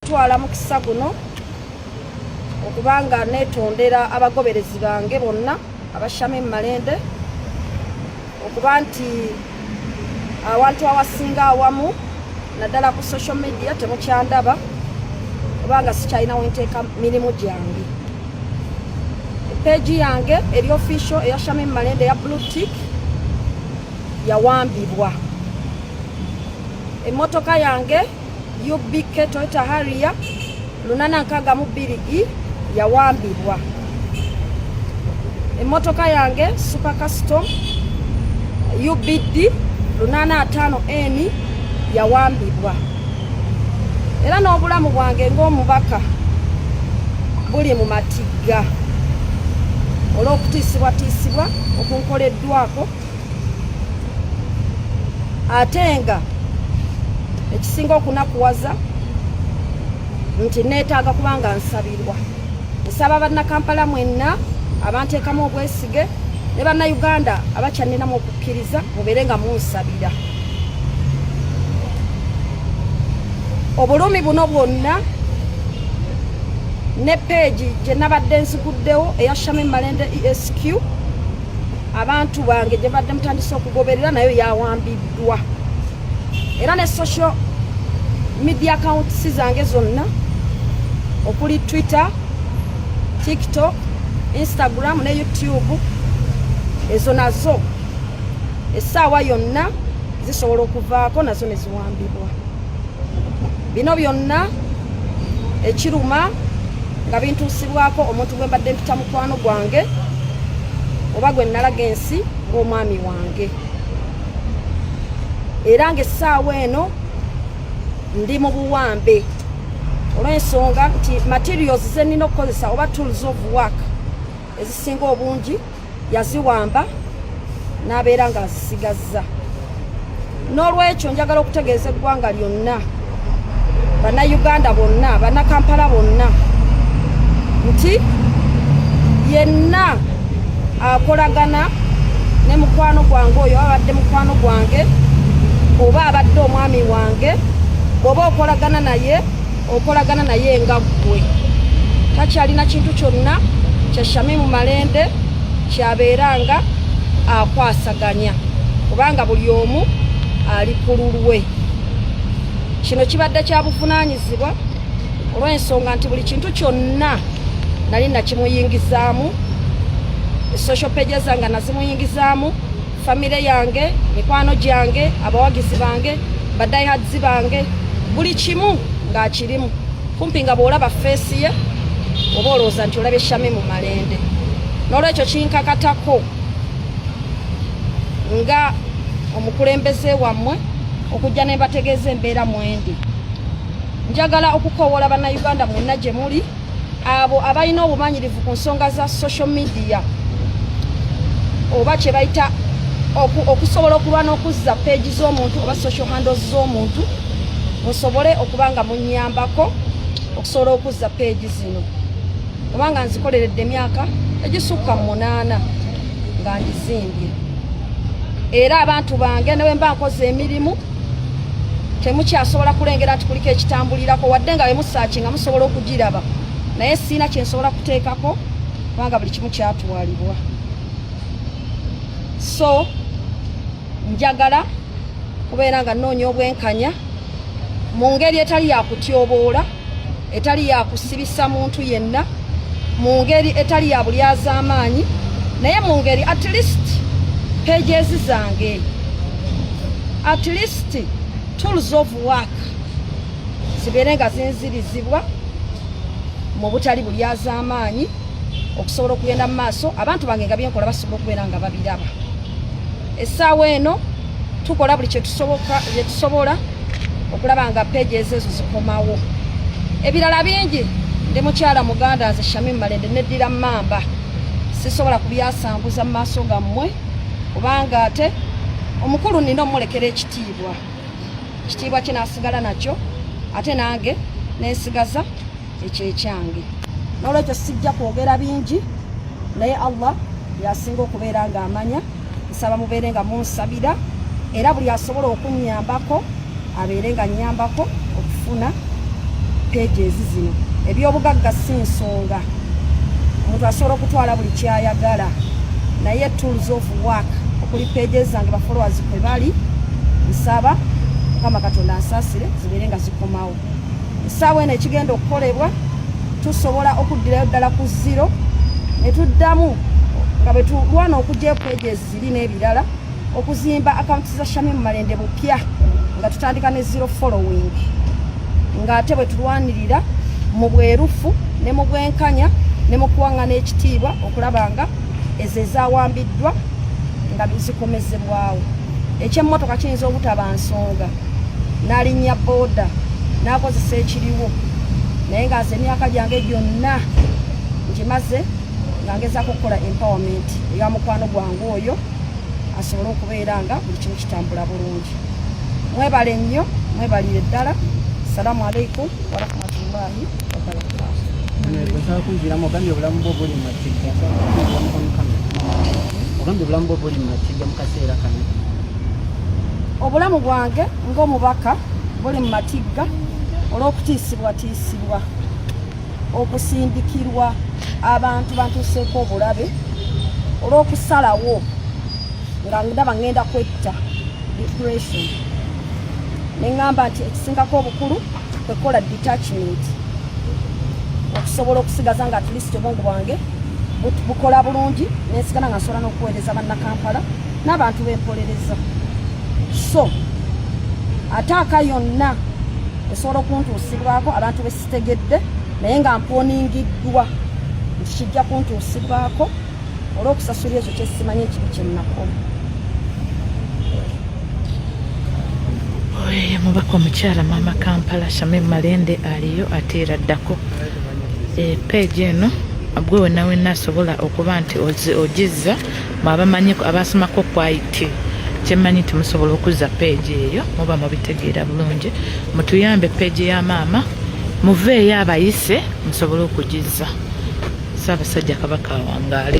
twala mukisa guno okubanga netondera abagoberezi bange bonna abashame mu malende okuba nti awantu awasinga awamu naddala ku social media temukyandaba kubanga sikyalina wenteeka mirimu gyange peegi yange eri official eya shame mu malende eya blue tick yawambibwa emmotoka yange UBK Toyota Harrier lunana nkaaga mu bbiri i yawambibwa. Emmotoka yange Super Custom UBD lunana ataano N yawambibwa. Era n'obulamu bwange ng'omubaka buli mu matigga olw'okutiisibwatiisibwa okunkoleddwako. ate nga ekisinga okunakuwaza nti neetaaga kubanga nsabirwa nsaba bannakampala mwenna abanteekamu obwesige ne bannayuganda abakyaninamu okukkiriza mubeere nga munsabira obulumi buno bwonna ne peegi gye nabadde nziguddewo eya shame malende esq abantu bange gye badde mutandise okugoberera nayo yawambiddwa era ne social media accounts zange zonna okuli twitter tiktok instagram ne youtube ezo nazo essaawa yonna zisobola okuvaako nazo ne ziwambibwa bino byonna ekiruma nga bintuusibwako omuntu gwe mbadde mpita mukwano gwange oba gwe nnalaga ensi ng'omwami wange era ng'essaawa eno ndi mu buwambe olw'ensonga nti materials ze nnina okukozesa oba tools of work ezisinga obungi yaziwamba n'abeera ng'azisigazza n'olwekyo njagala okutegeeza eggwanga lyonna bannayuganda bonna bannakampala bonna nti yenna akolagana ne mukwano gwange oyo abadde mukwano gwange oba abadde omwami wange oba okolagana naye okolagana naye nga ggwe takyalina kintu kyonna kya shamimu malende kyabeera nga akwasaganya kubanga buli omu ali ku lulwe kino kibadde kya buvunaanyizibwa olw'ensonga nti buli kintu kyonna nali nakimuyingizaamu social pages nga nazimuyingizaamu famire yange mikwano gyange abawagizi bange badayihadzi bange buli kimu ng'akirimu kumpi nga bw'olaba feesi ye oba olowooza nti olabye shami mu malende n'olwekyo kinkakatako nga omukulembeze wammwe okujja ne mbategeeza embeera mwendi njagala okukowoola bannayuganda mwonna gye muli abo abalina obumanyirivu ku nsonga za social media oba kyebayita okusobola okulwa n'okuzza peegi z'omuntu oba social handles z'omuntu musobole okuba nga munyambako okusobola okuzza peegi zino kubanga nzikoleredde emyaka egisukka mu munaana nga ngizimbye era abantu bange newemba nkoze emirimu temukyasobola kulengera nti kuliko ekitambulirako wadde nga bemusaaki nga musobola okugiraba naye siina kyensobola kuteekako kubanga buli kimu kyatwalibwa so njagala kubeera nga noonya obwenkanya mu ngeri etali yakutyoboola etali ya kusibisa muntu yenna mu ngeri etali ya bulyazaamaanyi naye mu ngeri at least pages zange at least tools of work zibeere nga zinzirizibwa mu butali bulyazaamaanyi okusobola okugenda mu maaso abantu bange nga byenkola basobola okubeera nga babiraba essaawa eno tukola buli kyetusobola okulaba nga peegi ezo ezo zikomawo ebirala bingi ndi mukyala muganda nze shami malende neddira mamba sisobola kubyasanguza mu maaso gammwe kubanga ate omukulu nina omulekera ekitiibwa ekitiibwa kye nasigala nakyo ate nange nensigaza ekyo ekyange nolwekyo sijja kwogera bingi naye allah yasinga okubeera nga amanya nsaba mubeere nga munsabira era buli asobola okunyambako abeere nga nyambako okufuna peegi ezi zino ebyobugagga si nsonga omuntu asobola okutwala buli kyayagala naye tools of work okuli pages zange bafollowers kwe bali nsaba mukama katonda ansasire zibeere nga zikomawo ssaawa eno ekigenda okukolebwa tusobola okuddirayo ddala ku ziro ne tuddamu nga bwe tulwana okugya okwejo eziri n'ebirala okuzimba akawunti za shami mu malende bupya nga tutandika ne zero following ng'ate bwe tulwanirira mu bwerufu ne mu bwenkanya ne mu kuwaŋŋana ekitiibwa okulaba nga ezo ezawambiddwa nga zikomezebwawo ekyemmotoka kiyinza obutaba nsonga nalinnya booda nakozesa ekiriwo naye nga nze emyaka gyange gyonna ngimaze nga ngezako okukola empowerment eya mukwano gwange oyo asobole okubeera nga buli kimu kitambula bulungi mwebale nnyo mwebalire ddala salamu aleikum warahmatullahi wabarakatuhogambye obulamu bwo buli mumatigga ogambye obulamu bwo buli mumatigga mu kaseera kano obulamu bwange ng'omubaka buli mu matigga olw'okutiisibwatiisibwa okusindikirwa abantu bantuuseeko obulabe olw'okusalawo nga ndaba ngenda kwetta depression ne ŋŋamba nti ekisingako obukulu kwekola detachment okusobola okusigaza nga atleast obwongo bwange bukola bulungi nensigana nga nsobola n'okuweereza bannakampala n'abantu bempolereza so ataaka yonna esobola okuntuusibwako abantu besitegedde naye nga mponingiddwa nti kijja kuntuusibwako olwokusasula ekyo kyesimanyi ekibi kyennakola oyo mubaka omukyala maama kampala shame malende aliyo ate era ddako eh, page eno gwe wenawena asobola okuba nti ogizza mwabamanyi abasomako kwit kyemmanyi nti musobola okuzza peegi eyo muba mubitegeera bulungi mutuyambe peegi ya maama muveeyo abayise musobole okugizza saabasajja kabaka awangaale